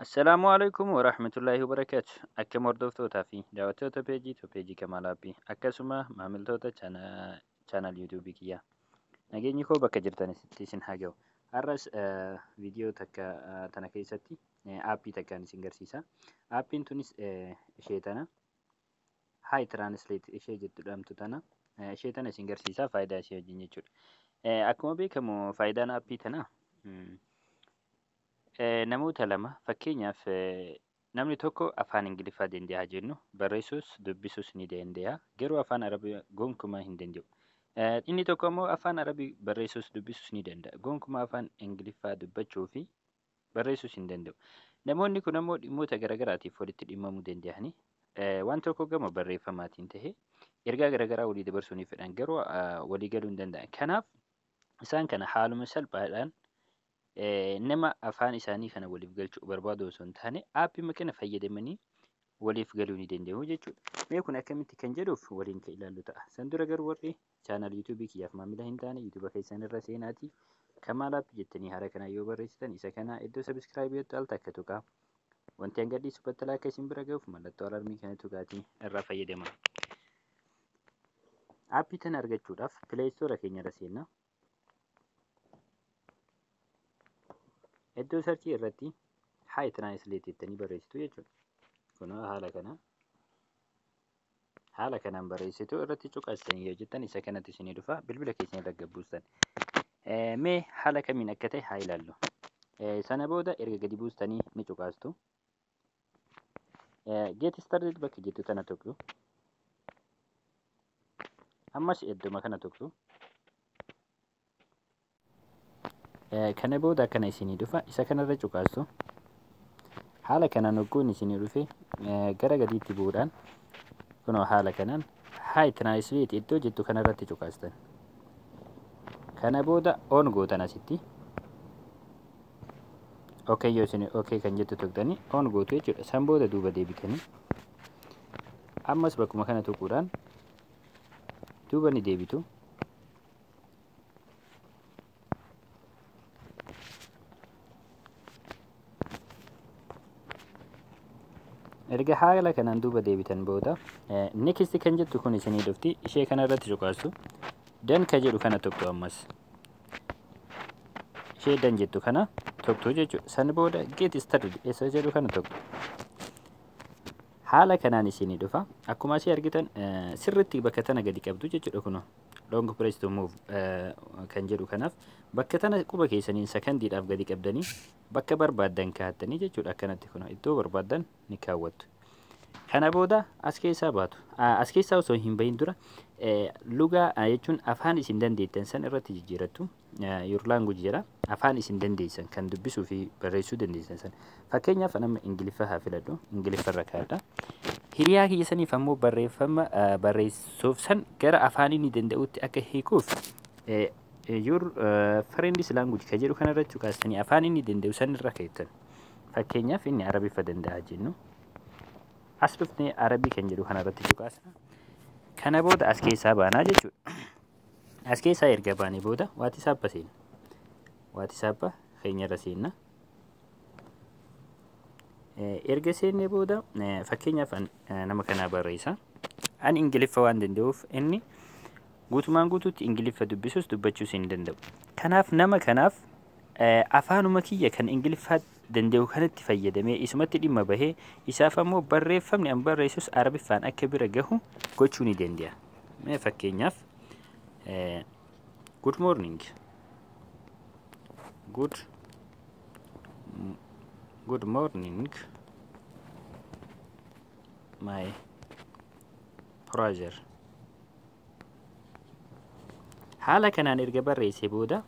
Assalaamu alaikum wa rahmatullahi wa barakaatu. Akkam hordoftootaa fi daawwattoota peejii to peejii Kamaal Aappi akkasuma maamiltoota chaanaal yuutuubii kiyyaa. Nageenyi koo bakka jirtanitti isin haa ga'u. Har'as viidiyoo takka tana keessatti aappii takkaan isin garsiisa. Aappiin tunis ishee tana. Hi translate ishee jettu dhamtu tana eh, ishee tana isin garsiisaa faayidaa ishee wajjin jechuudha. Eh, Akkuma beekamu faayidaan aappii tanaa mm, eh, namoota lama fakkeenyaaf eh, namni tokko afaan Ingiliffaa danda'a jennu barreessuus dubbisuus ni danda'a garuu afaan Arabii gonkumaa hin danda'u. Eh, Inni tokko immoo afaan Arabii barreessuus dubbisuus ni danda'a gonkumaa afaan Ingiliffaa dubbachuu fi barreessuus hin danda'u. Namoonni kun ammoo dhimmoota garaagaraatiif walitti dhimmamuu danda'anii waan tokko gama barreeffamaatiin ta'ee ergaa garaagaraa walii dabarsuu ni fedhan garuu walii galuu hin danda'an. Kanaaf isaan kana haaluma salphaadhaan nama afaan isaanii kana waliif galchuu barbaadu osoo hin taane aappii kana fayyadamanii waliif galuu ni danda'u jechuudha. Mee kun akkamitti kan jedhuuf waliin kan ilaallu ta'a. San dura garuu warri channel youtube kiyyaaf maamila hin taane youtube keessan irra seenaati kamaal app jettanii hara kana yoo barreessitan isa kana iddoo subscribe yottu al takka tuqa wanti hanga dhiisu battalaa akka isin bira ga'uuf mallattoo alarmii kana tuqaatii irraa fayyadama appii tana argachuudhaaf play store keenya irra seenna iddoo sarchii irratti high translate jettanii barreessitu jechuudha kun haala kana haala kanaan barreessitu irratti cuqastan yoo jettan isa kanatti isinii dhufa bilbila keessan irra gabbuustan mee haala kamiin akka ta'e haa ilaallu sana booda erga gadi buustanii ni cuqaastu geeti started bakka jettu tana tuqxu ammas idduma kana tuqxu kana booda akkana isinii dhufa isa kanarra cuqaastu haala kanaan hogguun isinii dhufe gara gadiitti bu'uudhaan kunoo haala kanaan haay tiraansileet iddoo jettu kanarratti cuqaastan kana booda oon gootan asitti okay yoo isin okay kan jettu tuqxanii oon gootu jechuudha san booda duuba deebitanii ammas bakkuma kana tuquudhaan duuba ni deebitu erga haala kanaan duuba deebitan booda next kan jettu kun isinii dhufti ishee kana irratti cuqaasu dan ka jedhu kana tuqxu ammas ishee dan jettu kana tuqxu jechuudha san booda get started isa jedhu kana tuqxu haala kanaan isinii dhufa akkuma asii argitan sirritti bakka tana gadi qabdu jechuudha kunoo long press to move eh, kan jedhu kanaaf bakka tana quba keessaniin sakandiidhaaf gadi qabdanii bakka barbaaddan kaa'attanii jechuudha akkanatti kun iddoo barbaaddan ni kaawwattu. Kana booda as keessaa baatu. Ah, As keessaa osoo hin bahin dura eh, lugaa ah, jechuun afaan isin dandeettan san irratti jijjiirattu. your language jedha afaan isin dandeessan kan dubbisuu fi barreessuu dandeessan san fakkeenyaaf nama ingiliffa haa filadhu ingiliffa irra kaadha hiriyaa kiyya saniif ammoo barreeffama eh, barreessuuf san gara afaan inni danda'utti akka hiikuuf eh, eh, your eh, friend's language ka jedhu kanarra cuqaastanii afaan inni danda'u san irra keettan fakkeenyaaf inni arabiffa danda'a jennu as dhufnee arabii kan jedhu kanarratti cuqaasna kana booda as keessaa baanaa jechuudha As keessaa erga baanee booda waatisaappa seenna. Waatisaappa keenyarra seenna. Erga seennee booda fakkeenyaaf nama kanaa barreessa. Ani Ingiliffa waan danda'uuf inni guutumaan guutuutti Ingiliffa dubbisus dubbachuus hin danda'u. Kanaaf nama kanaaf afaanuma kiyya kan Ingiliffaatti danda'u kanatti fayyadamee isumatti dhimma bahee isaaf ammoo barreeffamni an barreessus arabiffaan akka bira gahu gochuu ni danda'a. Mee fakkeenyaaf eh, good morning good m- good morning my brother haala kanaan erga barreessee booda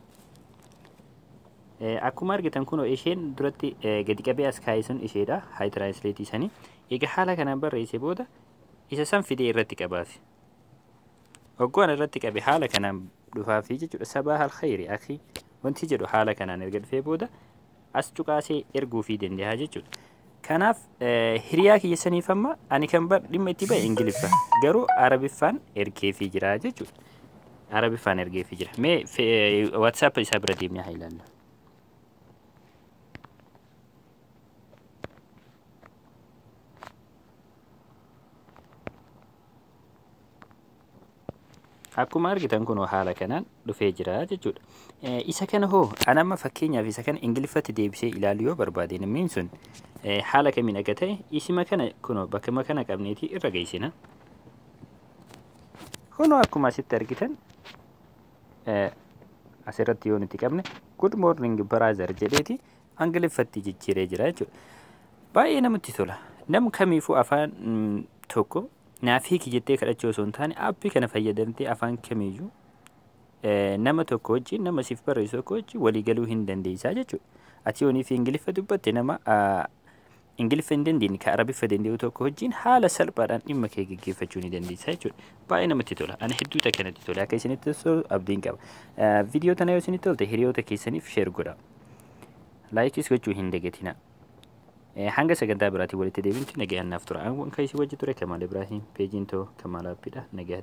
akkuma argitan kunoo isheen duratti gadi qabee as kaa'e sun isheedha haay tiraansileetii sanii egaa haala kanaan barreessee booda isa san fidee irratti qabaafi oggoon irratti qabe haala kanaan dhufaafii jechuudha sabaa halkhayri akhi wanti jedhu haala kanaan erga dhufee booda as cuqaasee erguufii danda'a jechuudha. Kanaaf hiriyaa kiyya saniif amma ani kan bar dhimma itti ba'e Ingiliffa garuu Arabiffaan ergeefii jira jechuudha. Arabiffaan ergeefii jira. Mee WhatsApp isaa bira deemnee haa ilaallu. Akkuma argitan kunoo haala kanaan dhufee jira jechuudha. Isa kana hoo an amma fakkeenyaaf isa kana ingiliffatti deebisee ilaalu yoo barbaade namni sun haala kamiin akka ta'e isima kana kunoo bakkuma kana qabneeti irra geessina. Kunoo akkuma asitti argitan asirratti yoo nuti qabne good morning brother jedheeti ingiliffatti jijjiiree jira jechuudha. Baay'ee namatti tola. Nam kamiifuu afaan tokko naaf hiiki jettee kadhachuu osoo hin taane aappii kana fayyadamtee afaan kamiyyuu nama tokko wajjin nama siif barreessu tokko wajjin walii galuu hin dandeessaa jechuudha. Ati yoonii fi Ingiliffa dubbatte nama Ingiliffa hin dandeenye kan Arabiffa danda'u tokko wajjin haala salphaadhaan dhimma kee gaggeeffachuu ni dandeessaa jechuudha. Baay'ee namatti tola. Ani hedduu takka natti tola. Akka isinitti tolu abdiin qaba. Viidiyoo tana yoo isinitti tolte hiriyoota keessaniif sheer godha. Laayikiis gochuu hin dagatinaa. Hanga sagantaa biraatiin walitti deebinutti nagayaan naaf tura. An kan isin wajji ture Kamaal Ibraahim. Peejiin too Kamaal Aappiidha. Nagayatti.